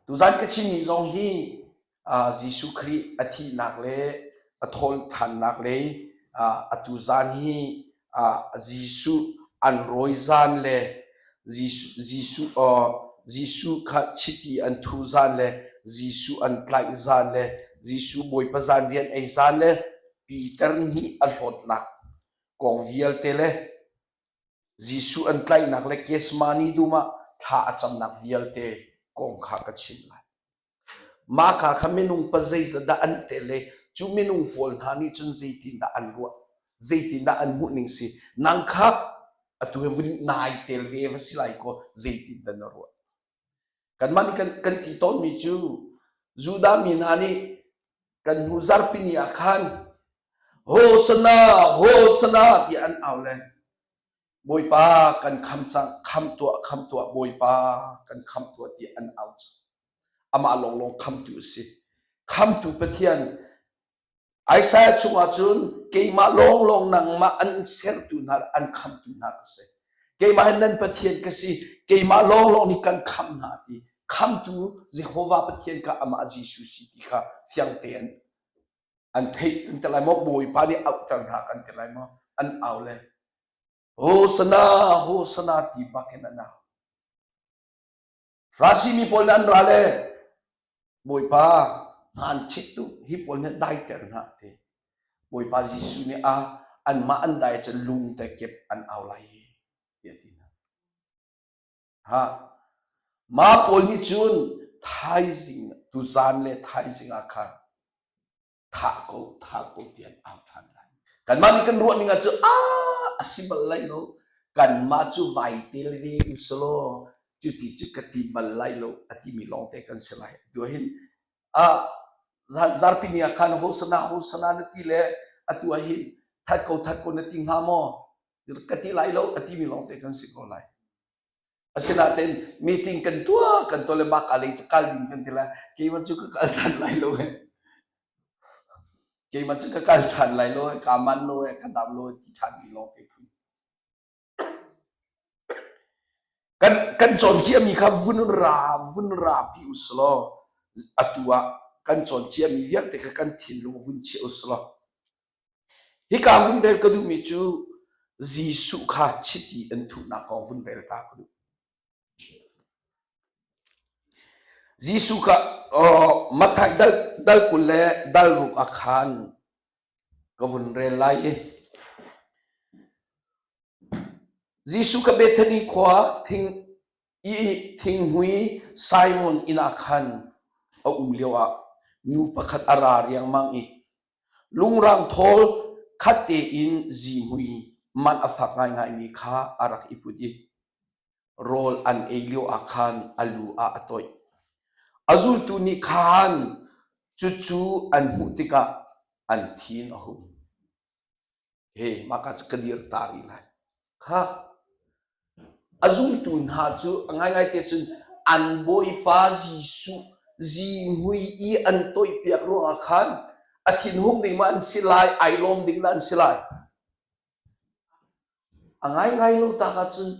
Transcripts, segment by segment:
Tuzan ka chimmi zong hi Jesuh Khrih a thihnak le a thawhthannak lei atu zan hi Jesuh an rawi zan le Jesuh kha chiti an thu zan le Jesuh an tlaih zan le Jesuh Bawipa zan rian ei zan le Peter nih a hlawtnak kong vialte le Jesuh an tlaihnak le Gethsemane dum ah thla a camnak vialte kong kha ka chim lai. Mah kha kha minung pa zeizadah an te le cu minung pawl hna nih cun zeitindah an ruah zeitindah an hmuhning si nang kha atu vun nai tel ve va si lai kaw zeitindah na ruah Kanmah nih kan, kan ti tawnmi cu Judah mi hna nih kan hnu zarpini ah khan Hosana, Hosana tiah an au le Bawipa kan kham cang, kham tuah, kham tuah, Bawipa kan kham tuah tiah an au cang. Amah lawnglawng khamtu a si. Khamtu Pathian Isaiah chungah cun keimah lawnglawng nangmah an sertu hna le an khamtu hna ka si. Keimah hi nan Pathian ka si, keimah lawnglawng nih kan khamh hna ti. Khamtu Jehovah Pathian kha amah Jesuh si ti kha fiang tein an theih kan ti lai maw? Bawipa nih auhter hna kan ti lai maw? An au le, Hosana, Hosana ti bak in an au. Farasi mi pawl nih an ra le Bawipa hnaan chit tu hi pawl nih daiter hna ti Bawipa Jesuh nih a anmah an dai cu lung te kip an au lai ti a ti hna ha ma pawl nih cun thaizing tuzan le thaizing ah khan thah ko thah ko ti an au ṭhan lai. Kanmah nih kan ruah ning ah cu a a si bal lai lo. Kanmah cu vai tel ve usulaw cuti cu ka ti bal lai lo a timi lawngte kan si lai. Duahin ah zan zarpini ah khan hosana hosana na ti le atu ah hin that ko that ko na ti hnga maw ka ti lai lo a timi lawngte kan si ko lai. Asinain meeting kan tuah kan tuah le mah lei cu kal ding kan ti la keimah cu ka kal than lai lo e keimah cu ka kal than lai lo e ka man lo e ka dam lo e ti than mi lawng te phu kan kan cawn cia mi kha vun ra vun ra pi uslaw atu ah kan cawn cia mi vialte kha kan thinlung vun chia uslaw Hika vunrel ka duhmi cu Jesuh kha chiti an thuhnak kong vunrel ta ka duh. Jesuh kha Matthaih dal, dal kul le dal ruk ah khan ka vun rel lai i Jesuh ka Bethani khua thing i thinghmui Simon inn ah khan a um lio ah nu pakhat a ra riangmang i Lungrang thawl khat tein zihmui man a fak ngaingaimi kha a rak i put i rawl an ei lioah khan a lu ah a toih. A zultu nih khan cucu an hmuh tikah an thin a hung. he maka cu ka dir ta i nai kha a zumtu hna cu a ngaingai te cun an bawipa jesuh zihmui i an toihpiak ruangah khan a thinhung ding ma an si lai ai lawm ding da an si lai a ngaingai lo ta ka cun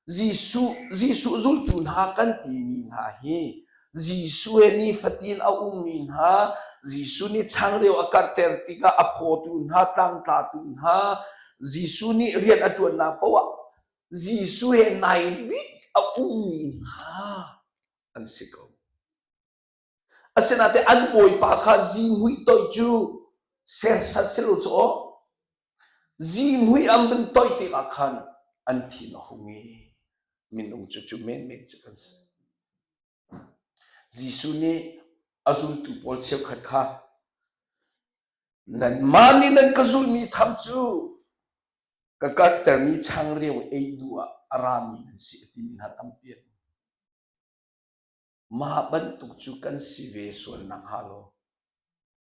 Jesuh, Jesuh zultu hna kan timi hna hi Jesuh he nifatin a ummi hna, Jesuh nih changreu a karhter tikah a phawtu hna, tlangtlatu hna, Jesuh nih rian a ṭuannak paoh ah Jesuh he nai bik a ummi hna an si ko. Asinain an bawipa kha zihmui toih cu sersat silo cu aw zihmui am vun toih te ah khan an thin a hung i minung cu cu menmen cu kan si Jesuh nih a zultu pawl cheukhat kha nanmah nih nan ka zulmi tham cu ka karhtermi changreu ei nu ah a rami nan si a timi hna tampi Mah bantuk cu kan si ve sual nakhnga law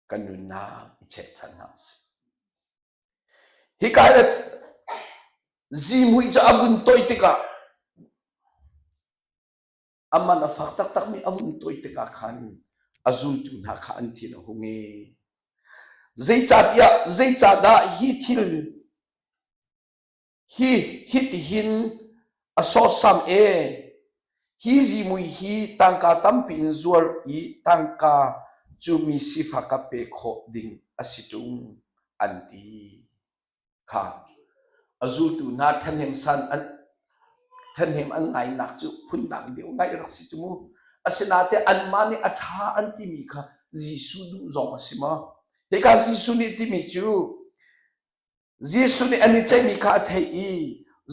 kan nunnak i chehchan hna usih. Hika le zihmui cu a vun toih tikah a man a fak taktakmi a vun toih tikah khan a zultu hna kha an thin a hung i zeicahtiah zeicahdah hi thil hi hitihin a sawsam e hi zimui hi tangka tampi in zuar i tangka cu mi sifak a pe khawh ding a si ṭung an ti kha a zultu na ṭhahnem san an ṭhahnem an ngainak cu phundang deuh ngai rak si cu mu asinate anmah nih a ṭha an timi kha Jesuh duh zong a si ma hi kan Jesuh nih timi cu Jesuh nih an i ceihmi kha a theih i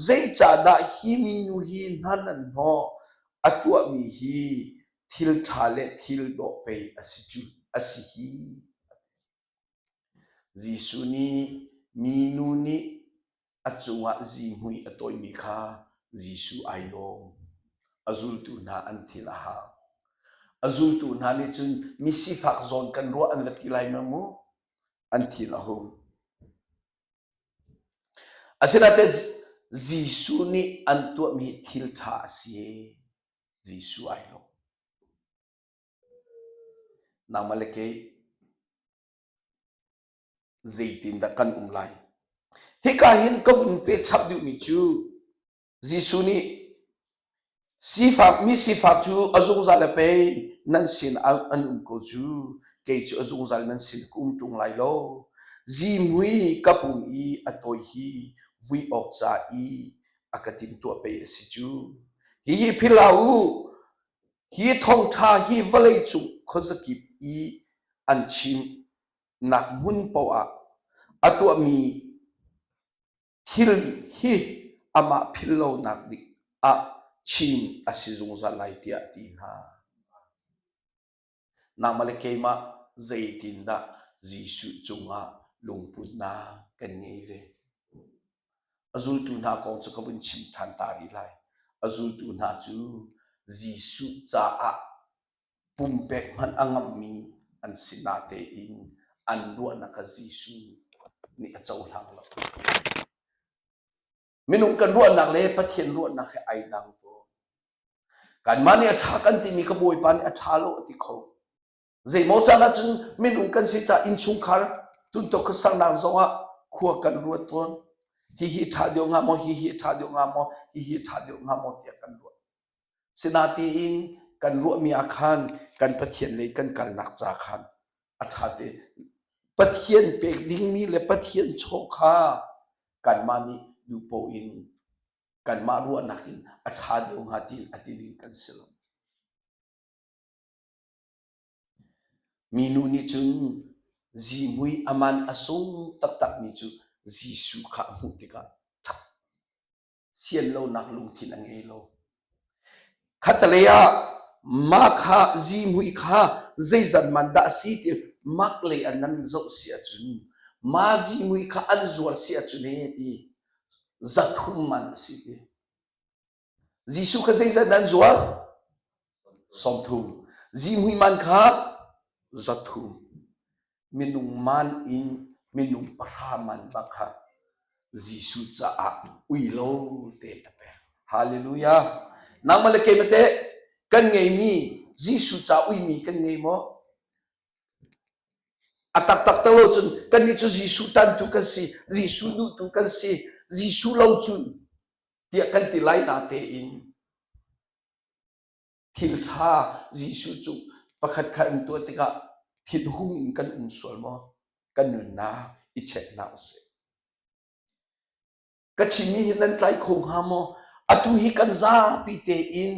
zeicahdah hi minu hi hnan an hnawh a tuahmi hi thil ṭha le thil dawh pei a si cu a si hi Jesuh nih minu nih a cungah zihmui a tawimi kha Jesuh ai lawm a zultu hna an thil a hau a zultu hna nih cun misifak zawn kan ruah an va ti lai ma mu Asinain Jesuh nih an tuahmi thil ṭha a si. Jesuh ai lo. Nangmah le kei zeitin dah kan um lai? Hika hin ka vun pe chap duhmi cu Jesuh nih sifak mi sifak cu a zungzal a pei nan sin an um ko cu kei cu a zungzal nan sin ka um ṭung lai lo zimui ka pum i a tawi hi vui awk ca i a ka timtuah pei a si cu hi hi phil hlah u hi thongṭha hi vawlei cung khuazakip i an chimnak hmun paoh ah a tuahmi Thil hi amah philhlonak dik ah chin a si zungzal lai tiah ti hna. Nangmah le keimah zeitindah Jesuh cungah lungputnak kan ngei ve? A zultu hna kong cu ka vun chim ṭhan ta rih lai. A zultu hna cu Jesuh caah Pumpek hmanh a ngamhmi an si natein an ruahnak ah Jesuh nih a cohlang lo. Minung kan ruahnak le Pathian ruahnak he ai dang tawn. Kanmah nih a ṭha kan timi ka Bawipa nih a ṭha lo a ti kho. Zeimaw caan ahcun minung kan si caah innchungkhar tuntok ka saknak zongah khua kan ruat tawn. Hihi ṭha deuh hnga maw, hihi ṭha deuh hnga maw, hihi ṭha deuh hnga maw tiah kan ruat. Sinatiin kan ruahmi ah khan kan Pathian lei kan kalnak ca khan a ṭha te Pathian pek dingmi le Pathian chaw kha kanmah nih duhpoh in kanmah ruahnak in a ṭha deuh hnga ti a ti ding kan si lo. Minu nih cun zimui aman a sung taktakmi cu Jesuh kha a hmuh tikah ṭhak sian lonak lungthin a ngei lo. Khatalei ah mah kha zimui kha zeizat man dah a si ti mak lei an nan zoh si ahcun ma zimui kha an zuar si ahcun he ti zathum man a si ti. Jesuh kha zeizat an zuar? Sawmthu. Zihmui man kha zathu. Minung man in minung pahra man bak kha Jesuh caah ui lo te na pek. Hallelujah. Nang male ke mate kan ngei mi Jesuh ca ui mi kan ngei mo. A tak tak talo cun kan ni cu Jesuh tan tu kan si, Jesuh nu tu kan si, Jesuh lo cun tiah kan ti lai na te in Thilṭha Jesuh cu pakhat kha in tuah tikah thinhung in kan um sual maw? Kan nunnak i check hna usih. Ka chimmi hi nan tlai kho hnga maw? Atu hi kan zapi tein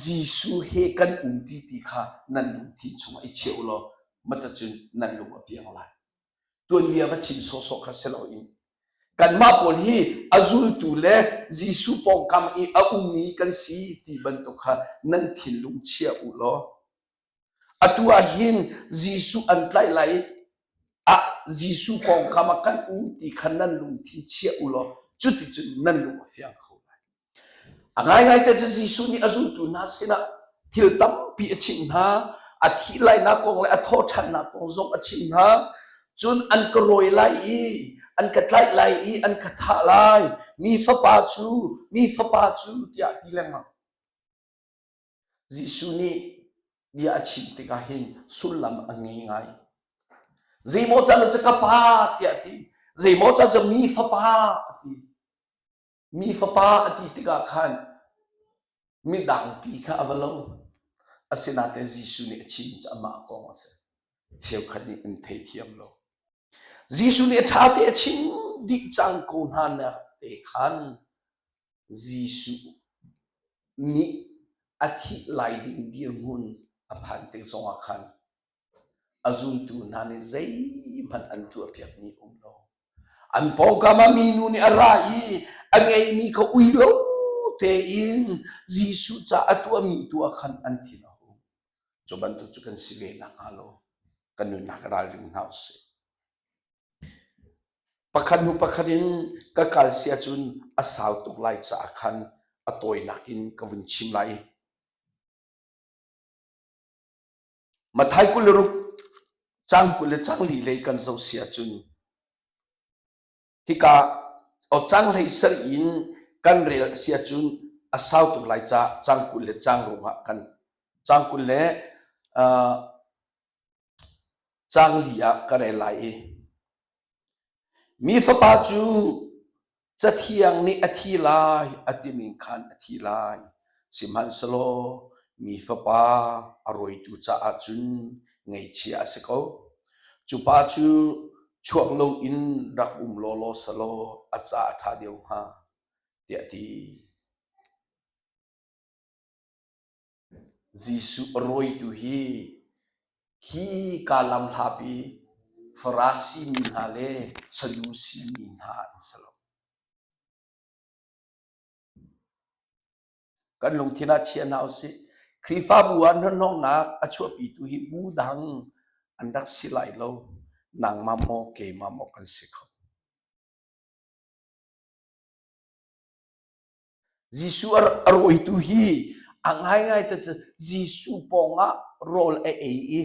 Jesuh he kan um ti ti kha nan lungthin chungah i cheu law mata cun nan lung a piang lai. tuanbia va chim sawhsawh kha si loin kanmah pawl hi a zultu le Jesuh pawngkam i a ummi kan si ti bantuk kha nan thinlung chia u law atu ah hin Jesuh an tlaih lai ah Jesuh pawngkam ah kan um ti kha nan lungthin chia u law cuticun nan lung a fiang kho lai A ngaingai te cu Jesuh nih a zultu hna sinah thil tampi a chimh hna. A thih lainak kong le a thawhṭhannak kong zong a chimh hna. Cun an ka rawi lai i an ka tlaih lai i an ka thah lai. Mi fapa cu, mi fapa cu, tiah a ti lengmang. Jesuh nih bia a chim tikah hin sullam a ngei ngai. Zeimaw caan cu ka pa tiah a ti. Zeimaw caan cu mi fapa a ti. Mi fapa a ti tikah khan midangpi kha a va lo. Asinain Jesuh nih a chim cu amah kong a si. Cheukhat nih an theithiam lo. Jesuh nih a ṭha te a chim dih cang ko hna nak te khan Jesuh nih a thih lai ding dirhmun a phan te zongah khan a zumtu hna nih zeihmanh an tuahpiakmi a um lo. An pawngkam ah minu nih a ra i a ngeimi kha ui lo tein Jesuh ca a tuahmi tu ah khan an thin a hung. Cu bantuk cu kan si ve nakhnga lo kan nunnak ralring hna usih. Pakhat hnu pakhat in ka kal sia cun a sau tuk lai caah khan a tawinak in ka vun chim lai. Mathai kul le ruk, cang kul le changlih lei kan zoh si ahcun hika aw canglei sal in kan rel a si ahcun a sau tuk lai ca cang kul le cang ruangah kan cang kul le uh, cang li ah kan rel lai i mi fapa cu Cathiang nih a thi lai a timi khan a thi lai. Sihmanhsehlaw mi fapa a rawitu caah cun ngeichia a si ko. Cu pa cu chuak loin rak um lawlaw selaw a ca a ṭha deuh hnga, tiah a ti. Jesuh a rawitu hi hi kaa lam hlah pi Farasi mi hna le Sadusi mi hna an si lo. Kan lungthin ah chia hna u sih. Khrihfabu ah hnahnawhnak a chuahpitu hi bu dang an rak si lai lo. Nangmah maw keimah maw kan si kho. Jesuh a rawitu hi a ngaingai te cu Jesuh pawngah rawl a ei i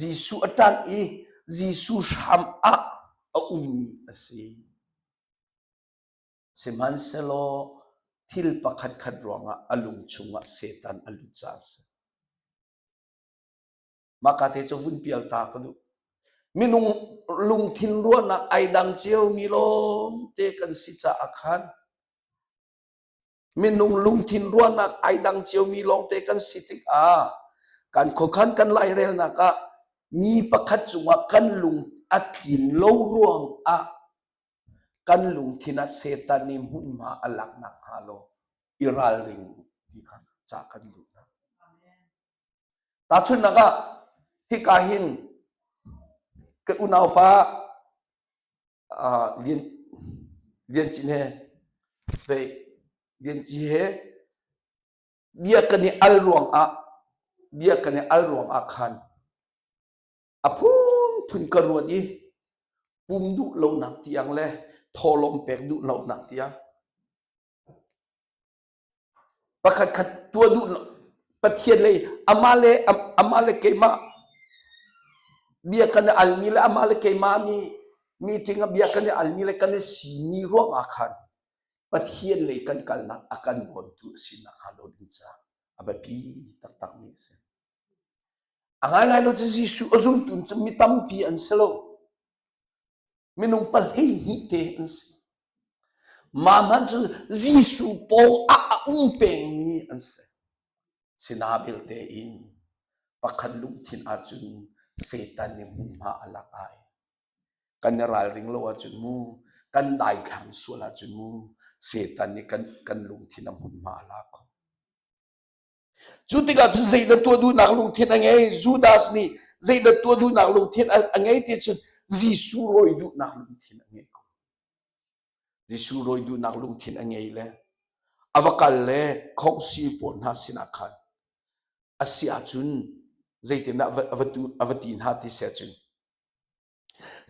Jesuh a ṭanh i Jesuh hram ah a ummi a si. Sihmanhsehlaw thil pakhatkhat ruangah a lung chungah Satan a lut caah a si. Maka te cu vun pial ta ka duh. Minung lungthin ruahnak ai dang cio mi lawm te kan si caah khan minung lungthin ruahnak ai dang cio mi lawng te kan si tik ah kan khuakhan kan lairelnak ah mi pakhat cungah kan lung a tlin lo ruang ah kan lungthin ah setan nih hmunhma a lak nak hnga lo i ralring u ti kha ca kan duh. Tahchunhnak ah, hika hin ka unaupa uh, Lian, Lianci he pei Lianci he bia kan i al ruangah bia kan i al ruangah khan a phunphun ka ruat i pum duh lonak tiang le tholawm pek duh lonak tiang Pakhatkhat tuah duh Pathian lei amah le amah le keimah bia kan i almi le amah le keimah mi meeting ah bia kan i almi le kan i simi ruangah khan Pathian lei kan kalnak a kan dawntu a sinak hnga lo ding caah a biapi taktakmi a si. A ngaingai lo cu Jesuh a zultu cu mi tampi an si lo. Minung pahleihnih te an si. Mah hmanh cu Jesuh paw ah a um pengmi an si. Sina belte in pakhat lungthin ahcun Satan nih hmunhma a lak ai. Kan i ralring lo ahcun mu, kan daithlang sual ahcun mu, Satan nih kan, kan lungthin a hmunhma a lak. Cu tikah cun zeidah tuah duhnak lungthin a ngei? Judas nih zeidah tuah duhnak lungthin a ngei ti cun Jesuh rawi duhnak lungthin a ngei ko. Jesuh rawi duhnak lungthin a ngei le a va kal le khawngsi pawl hna sinah khan a si ahcun zeitindah a va tu a va ti hna ti seh cun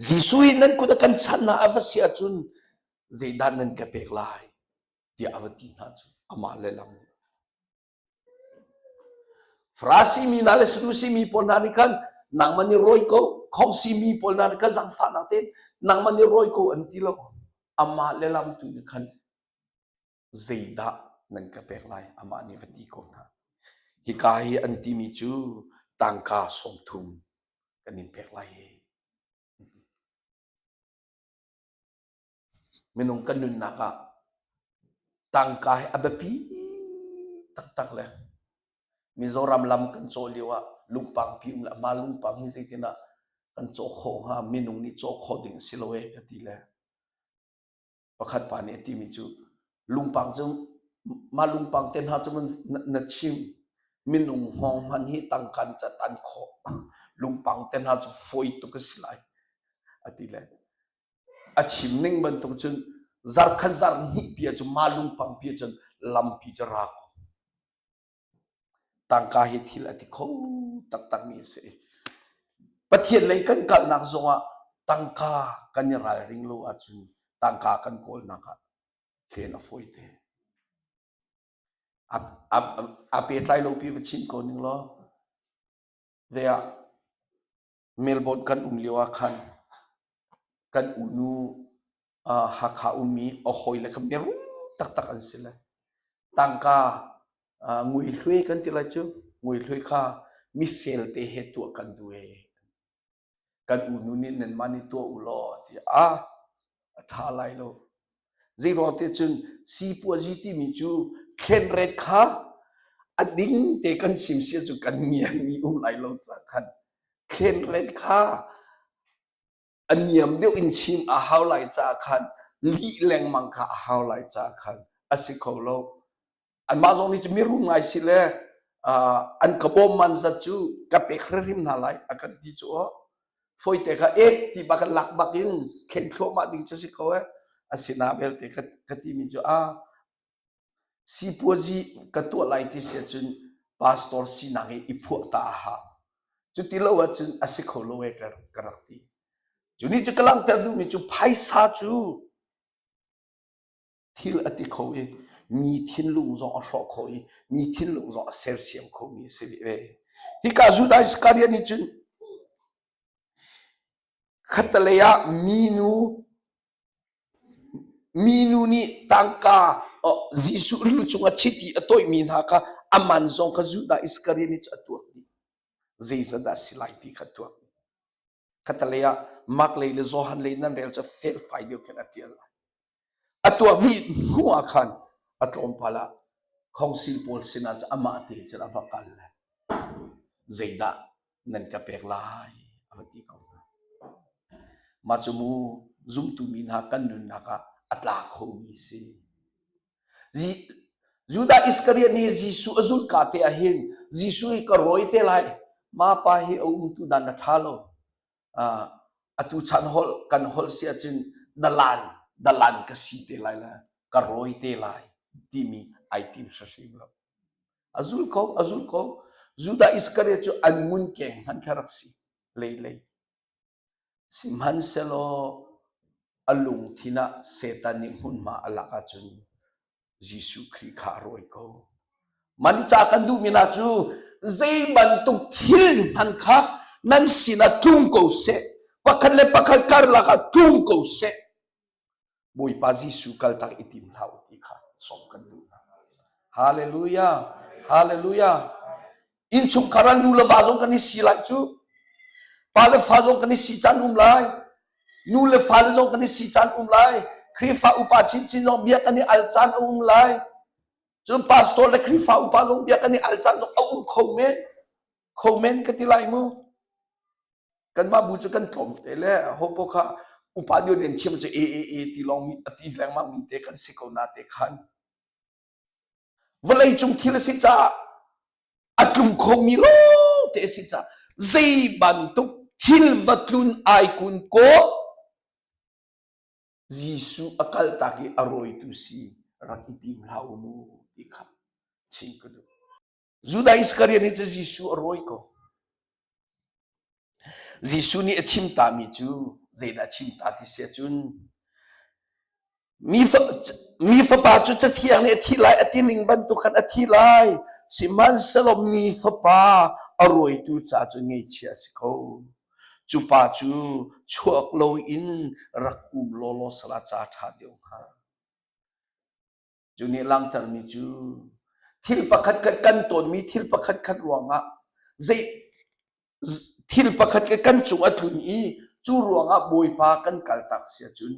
Jesuh hi nan kut a kan chanh ah a va si ahcun zeidah nan ka pek lai tiah a va ti hna cu amah le lam nih. Farasi mi hna le Sadusi mi pawl hna nih khan nangman i rawi ko khomsi mi pawl hna nih khan zangfahnak tein nangman i rawi ko an ti lo amah le lam tu nih khan zeidah nan ka pek lai amah nih va ti ko hna hika hi an timi cu tangka sawmthum kan in pek lai hi minung kan nunnak ah tangka hi a biapi taktak le Mizoram lam kan caw lio ah lungpang pi um le ma lungpang hi zeitin ah kan caw khawh hnga minung nih caw khawh ding si lo e ka ti le pakhat pa nih a timi cu lungpang cu mah lungpang te hna cu na chim minung hawng hman hi tangkan ca tan khawh lungpang te hna cu fawi tuk a si lai a ti le a chim ning bantuk cun zarkhat zar hnih pia cu ma lungpang pia cun lampi cu ra ko Tangka hi thil a ti kho taktakmi a si. Pathian lei kan kalnak zongah tangka kan i ralring lo ahcun tangka kan kawlnak ah thlen a fawi te. A, a, a pehtlai lopi va chim ko ning law, they are Melbourne kan um lio ah khan kan unu uh, Hakha ummi a hawi le kan biarum taktak an si lai. Tangka uh, ngui hlui kan ti lai cu ngui hlui kha mifel te he tuah kan duh e. Kan unu nih nanmah nih tuah u law ti ah a ṭha lai lo. Zeiruangte cun sipuazi timi cu thlenret kha a ding te kan sim sia cu kan niam mi um lai lo ca khan thlenret kha a niam deuh in chim a hau lai ca khan lih lengmang kha a hau lai ca khan a si kho lo. anmah zong nih cu mirum ngai si le an ka bawm man zat cu ka pek hrim hna lai a kan ti cu oh foite ka ek ti ba kan lak bak in khen thluahmah ding cu si ko eh asina belte ka ka ti mi cu a sipuazi ka tuah lai ti sia cun pastor sinak i i phuah ta ha cu ti lo ahcun a si kho lo e ka ka rak ti cu ni cu ka langhter duhmi cu phaisa cu thil a ti kho i mi thinlung zong a hrawh kho i mi thinlung zong a sersiam khomi a si ve. Hika Judah Iskariot nih cun khatalei ah minu minu nih tangka Jesuh lu cung a chit i a tawihmi hna kha aman zong kha Judah Iskariot nih cu a tuak dih. Zeizadah si lai ti kha tuak dih. Khatalei ah Markley le Johan lei nan rel cu felfai deuh khin a ṭial lai. A tuah dih hnu ah khan a tlawmpal ah council pawl sinah cu amah te cun a va kal lai. Zeidah nan ka pek lai a va ti ko hna. Mah cu mu zumtu mi hna kan nunnak ah a tla khomi si. Judah Iskariot nih Jesuh a zulka te ah hin Jesuh hi ka rawi te lai ma pa hi a um tu dan na tha lo uh, atu chan hol kan hol si ahcun dalan dalan ka si te lai la ka rawi te lai timi ai tim hrim lo azul ko azul ko Judah Iskariot cu an ngun keng han kha rak si lei lei Sihmanhsehlaw a lungthin ah Satan nih hmunhma a lak ahcun Jesuh Khrih kha a rawi ko. Man i cah kan duhmi hna cu zei bantuk thil hmanh kha nan sinah tlung ko seh. Pakhat le pakhat karlak ah tlung ko seh. Bawipa Jesuh kaltak i tim hlah u ti kha sawm kan duh. Hallelujah! Hallelujah! Innchungkhar an nu le va zong kan i si lai cu. Pa le fa zong kan i si caan um lai. Nu le fa le zong kan i si caan um lai. Khrihfa upa chinchin zong bia kan i al caan a um lai. Cun pastor le Khrihfa upa zong bia kan i al caan zong a um kho men. kho men ka ti lai mu kanmah bu cu kan tlawm te le hopo kha upa dion en chiam cu e e e ti long mi a ti lengmang mi te kan si ko na te khan vawlei cung thil si ca a tlum kho mi lo te si ca zei bantuk thil va tlun ai kun ko Jesu a kal tak i a roitu si rak i tim hlau mu ti kha chim ka duh Judah Iskariot nih cun Jesuh a rawi ko. Jesuh nih a chim tami cu zeidah a chim ta ti si cun mi, fa, mi fapa cu cathiang nih a thi lai a ti ning bantuk khan a thi lai sihmanhsehlaw mi fapa a rawitu ca cu ngeichia a si ko cu pa cu chuak lo in rak um lawlaw sala ca ṭha deuh hnga Cu nih langtermi cu thil pakhat kan kan tawnmi thil pakhat khat ruangah zei thil pakhat ke kan cung a tlun i cu ruangah Bawipa kan kaltak sia cun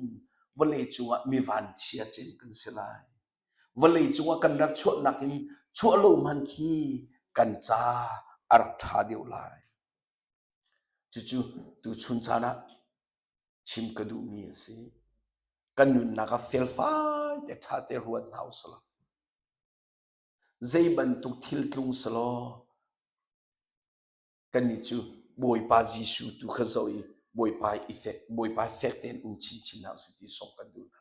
vawlei cungah mi vanchia cin kan si lai. Vawlei cungah kan rak chuah nakin chuah lo man khi kan ca ar tha deuh lai. Cucu tu chun caan ah chim ka duhmi a si. Kan nunnak ah felfai te ṭha te ruat hna usih Zei bantuk thil tlung selaw kannih cu Bawipa Jesuh tu kha zoh i Bawipa i fek Bawipa fek tein um chinchin hna usih ti sawm kan duh hna.